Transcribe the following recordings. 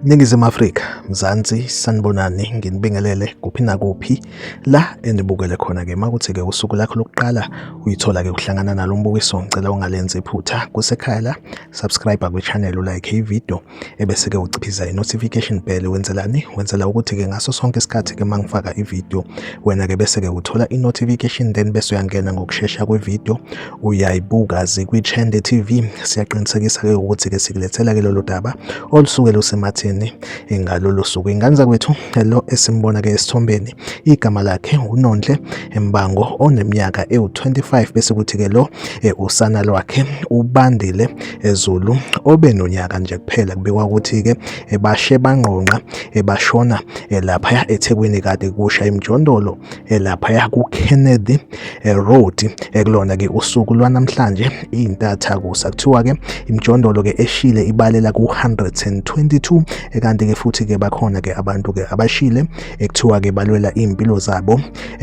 Ningizimu Afrika, Mzansi, sanibonani, nginibingelele kuphi nakuphi la enibukele khona ke makuthi ke usuku lakho lokuqala uyithola ke ukuhlangana nalo mbukiso ngicela ungalenzi iphutha kusekhaya la subscribe kwi channel like i video ebese ke uciphiza i notification bell wenzelani wenzela ukuthi ke ngaso sonke isikhathi ke mangifaka i video wena ke bese ke uthola i notification then bese uyangena ngokushesha kwe video uyayibuka zikwi Chende TV siyaqinisekisa ke ukuthi ke sikulethela ke lolu daba olusuke lusematheni ngalolu suku ingane zakwethu lo esimbona ke esithombeni igama lakhe uNonhle Mbango oneminyaka ewu 25 bese kuthi ke lo eh, usana lwakhe ubandile ezulu obe nonyaka nje kuphela kubikwa ukuthi-ke bashe bangqongqa bashona laphaya ethekwini kade kusha imjondolo laphaya kukennedy road ekulona-ke usuku lwanamhlanje iyintatha kusa kuthiwa-ke imjondolo-ke eshile ibalela ku-122 kanti-ke futhi-ke bakhona-ke abantu-ke abashile ekuthiwa-ke balwela iy'mpilo zabo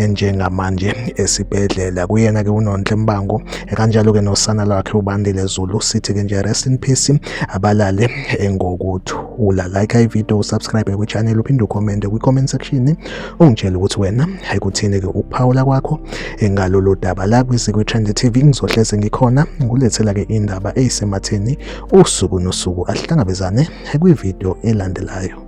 njengamanje esibhedlela kuyena-ke unonhle mbango kanjalo-ke nosana lwakhe ubandile zulu sithi-ke nje rest in peace abalale ngokuthula like ivideo usubscribe kwichannel uphinde ucommente kwi-comment section ungitshele ukuthi wena ayikuthini-ke ukuphawula kwakho ngalolu daba la kwisikwi-trend tv ngizohleze ngikhona ngulethela-ke indaba eyisematheni usuku nosuku ahlangabezane kwivideo elandelayo